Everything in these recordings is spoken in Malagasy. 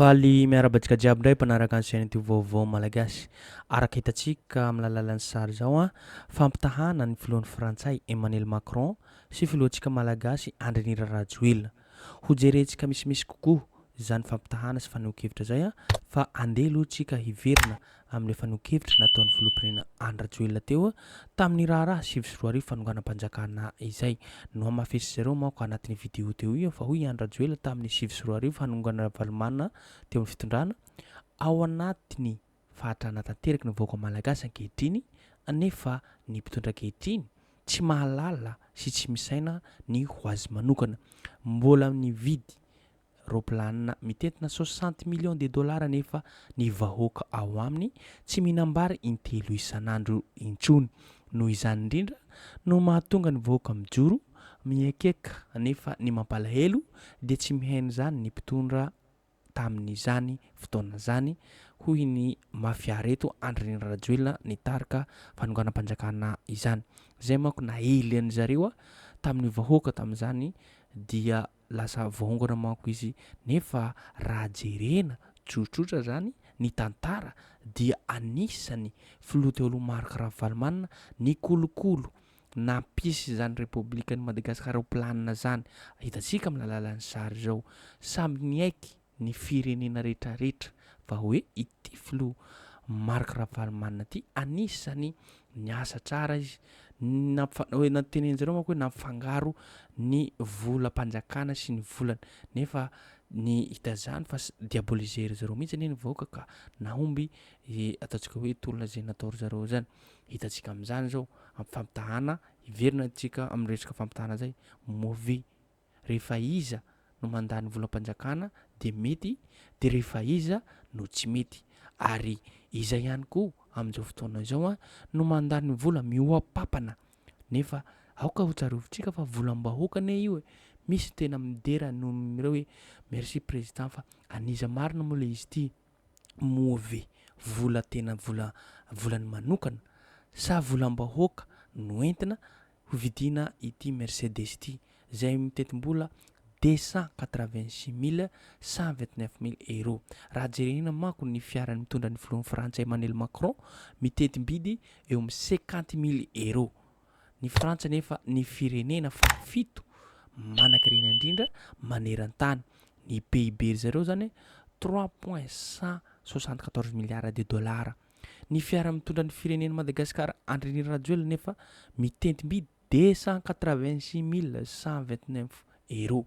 Faly miarahaba antsika jiaby indray mpanaraka ny chaîne YouTube vaovao malagasy. Araka hitantsika amin'ny lalalan'ny sary izao an, fampitahana ny filohan'ny Frantsay Emmanuel Macron sy filohantsika malagasy Andry Nirina Rajoelina. Hojerentsika misimisy kokoa izany fampitahana sy fanehoan-kevitra izay fa andeha aloha tsika hiverina amin'ilay fanehoan-kevitra nataon'ny Filoham-pirenena Andry Rajoelina teo tamin'ny raharaha sivy sy roa arivo fanonganam-panjakana izay. Nohamafesin'izy ireo manko anatin'io video teo io fa hoy i Andry Rajoelina tamin'ny sivy sy roa arivo hanongana Ravalomanana teo amin'ny fitondrana ao anatin'ny Fahatrana tanteraka ny vahoaka malagasy ankehitriny anefa ny mpitondra ankehitriny tsy mahalala sy tsy misaina ny ho azy manokana. Mbola nividy raoplanina mitentina soixante millions de dollars anefa ny vahoaka ao aminy tsy mihinam-bary intelo isan'andro intsony. Noho izany indrindra no mahatonga ny vahoaka mijoro miekeka nefa ny mampalahelo dia tsy mihaino izany ny mpitondra. tamin'izany fotoana izany, hoy ny mafia reto Andrinirina Rajoelina nitarika fanonganam-panjakana izany. Izay manko naely an'i zareo tamin'ny vahoaka tamin'izany dia lasa vaongana manko izy nefa raha jerena tsotsotra izany ny tantara dia anisan'ny filoha teo aloha Marc Ravalomanana nikolokolo nampisy izany Repoblikan'i Madagasikara ho planina izany. Hitantsika amin'ny alalan'ny sary izao. Samy niaiky ny firenena rehetrarehetra fa hoe ity filoha Marc Ravalomanana ity anisany niasa tsara izy. Nampifa-notenenjareo manko hoe nampifangaro ny volam-panjakana sy ny volana. Nefa ny hita izany fa diaboliser-zareo mihitsy anie ny vahoaka ka nahomby ataontsika hoe tolona izay natao ry zareo izany. Hitantsika amin'izany izao amin'ny fampitahana, hiverina antsika amin'ny resaka fampitahana izay, mauvais. Rehefa iza no mandà ny volam-panjakana dia mety, dia rehefa iza no tsy mety. Ary iza ihany koa amin'izao fotoana izao no mandà ny vola mihoa-papana? Nefa aoka ho tsarovintsika fa volam-bahoaka anie io e! Misy ny tena midera noho ireo hoe merci président fa an'iza marina moa ilay izy ity? moa ve vola tena vola volany manokana sa volam-bahoaka no entina hovidiana ity Mercedes ity izay mitentim-bola deux cent quatre-vingt-six mille cent vingt-neuf mille euros. Raha jerena manko ny fiaran'ny mitondra ny filohan'ny Frantsay Emmanuel Macron mitentim-bidy eo amin'ny cinquante mille euros. Ny Frantsa anefa ny firenena fahafito manan-karena indrindra maneran-tany. Ny PIB ry zareo izany trois point cent soixante quatorze milliards de dollars. Ny fiara mitondra ny firenen'i Madagasikara Andrinirina Rajoelina anefa mitentim-by deux cent quatre-vingt-six mille cent vingt-neuf euros.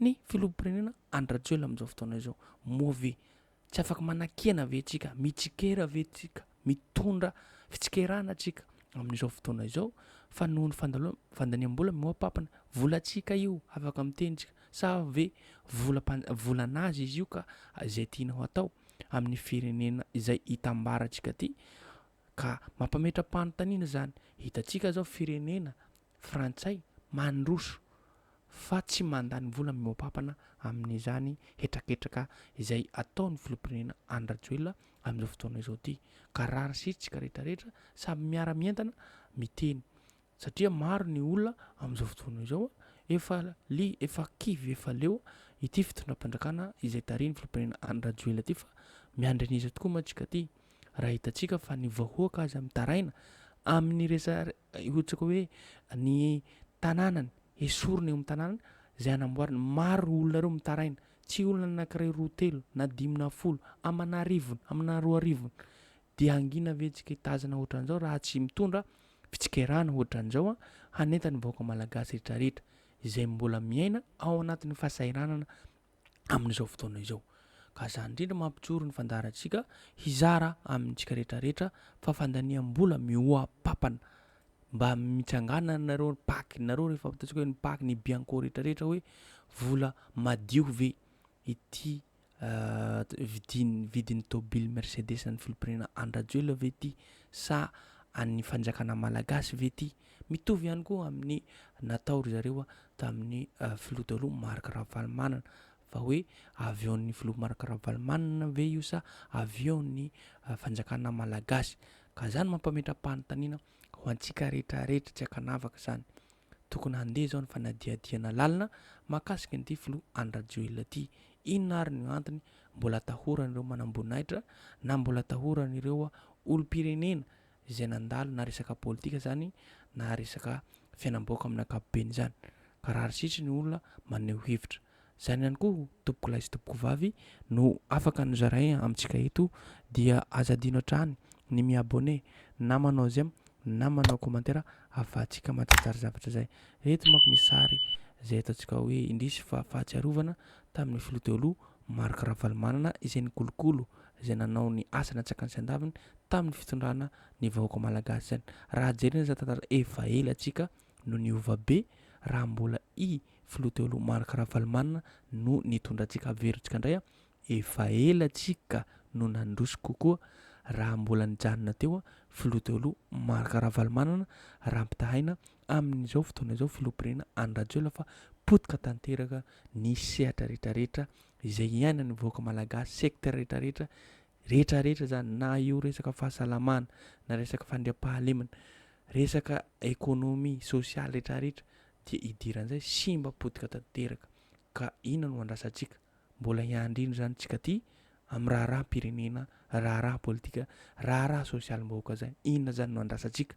ny filoham-pirenena Andry Rajoelina amin'izao fotoana izao. Moa ve tsy afaka manakihana ve tsika, mitsikera ve tsika, mitondra fitsikerana tsika amin'izao fotoana izao fa noho ny fandaniam-bola mihoa-papana, volantsika io afaka miteny tsika sa ve volan'azy izy io ka izay tianao atao amin'ny firenena izay hitambarantsika ity ka mampametra-panontaniana izany. Hitantsika izao firenena frantsay mandroso fa tsy mandany vola mihoa-pampana amin'izany hetraketraka izay ataon'ny filoham-pirenena Andry Rajoelina amin'izao fotoana izao ity ka rarisitsika rehetra rehetra samy miara mientana miteny satria maro ny olona amin'izao fotoana izao efa li efa kivy efa leo ity fitondram-panjakana izay tarihin'ny filoham-pirenena Andry Rajoelina ity fa miandry an'iza tokoa mantsika ity raha hitantsika fa ny vahoaka aza mitaraina amin'ny resa Ohatra koa hoe ny tanànany hesorina eo amin'ny tanànany izay hanamboarana. Maro ireo olona ireo mitaraina, tsy olona anankiray, roa, telo na dimy na folo amana arivony, amana roa arivony. Dia hangina ve antsika hitazana ohatran'izao raha tsy mitondra fitsikerana ohatran'izao hanentana ny vahoaka malagasy rehetra rehetra izay mbola miaina ao anatin'ny fahasahiranana amin'izao fotoana izao. Ka izany indrindra mampijoro ny fandaharantsika hizara amintsika rehetra rehetra fa fandaniam-bola mihoa-papana. Mba mitsanganana nareo ny pac nareo rehefa ataontsika hoe ny pac ny bianco rehetra rehetra hoe vola madio ve ity vidin vidin'ny tôbily mercedes an'ny filompirenena an-dRajoelina ve ity sa an'ny fanjakana malagasy ve ity? Mitovy ihany koa amin'ny natao ry zareo tamin'ny filoha taloha Marc Ravalomanana fa hoe avion-n'ny filoha Marc Ravalomanana ve io sa avion-n'ny fanjakana malagasy ka izany mampametra-panontaniana ho antsika rehetra rehetra tsy ankanavaka izany. Tokony handeha izao ny fanadihadihana lalina mahakasika an'ity filoha Andry Rajoelina ity. Inona ary ny antony mbola atahoran'ireo manamboninahitra na mbola atahoran'ireo olom-pirenena izay nandalo na resaka politika izany na resaka fiainam-bahoaka amin'ny ankapobeny izany. Ka raha ry sitry ny olona maneho hevitra. Izany ihany koa tompokolahy sy tompokovavy no afaka nozaraina amintsika eto dia aza adino hatrany ny mi abonner na manao j'aime na manao commentaire afahantsika mantsitsara zavatra izay. Eto manko misy sary izay ataontsika hoe indrisy fa fahatsiarovana tamin'ny filoha teo aloha Marc Ravalomanana izay nikolokolo izay nanao ny asa natsakany sy andaviny tamin'ny fitondrana ny vahoaka malagasy izany. Raha jerena izany tantara efa ela antsika no niova be raha mbola i filoha teo aloha Marc Ravalomanana no nitondra antsika averontsika indray efa ela antsika no nandroso kokoa raha mbola nijanona teo filoha teo aloha Marc Ravalomanana raha ampitahaina amin'izao fotoana izao filoham-pirenena Andry Rajoelina fa potika tanteraka ny sehatra rehetra rehetra izay iainan'ny vahoaka malagasy, secteur rehetra rehetra, rehetra rehetra izany na io resaka fahasalamana, na resaka fandriampahalemana, resaka économie, sociale rehetra rehetra dia idiran'izay simba potika tanteraka ka inona no andrasantsika? Mbola hiandry inona izany tsika aty amin'ny raharaham-pirenena, raharaha politika, raharaha sosialim-bahoaka izany? Inona izany no andrasantsika?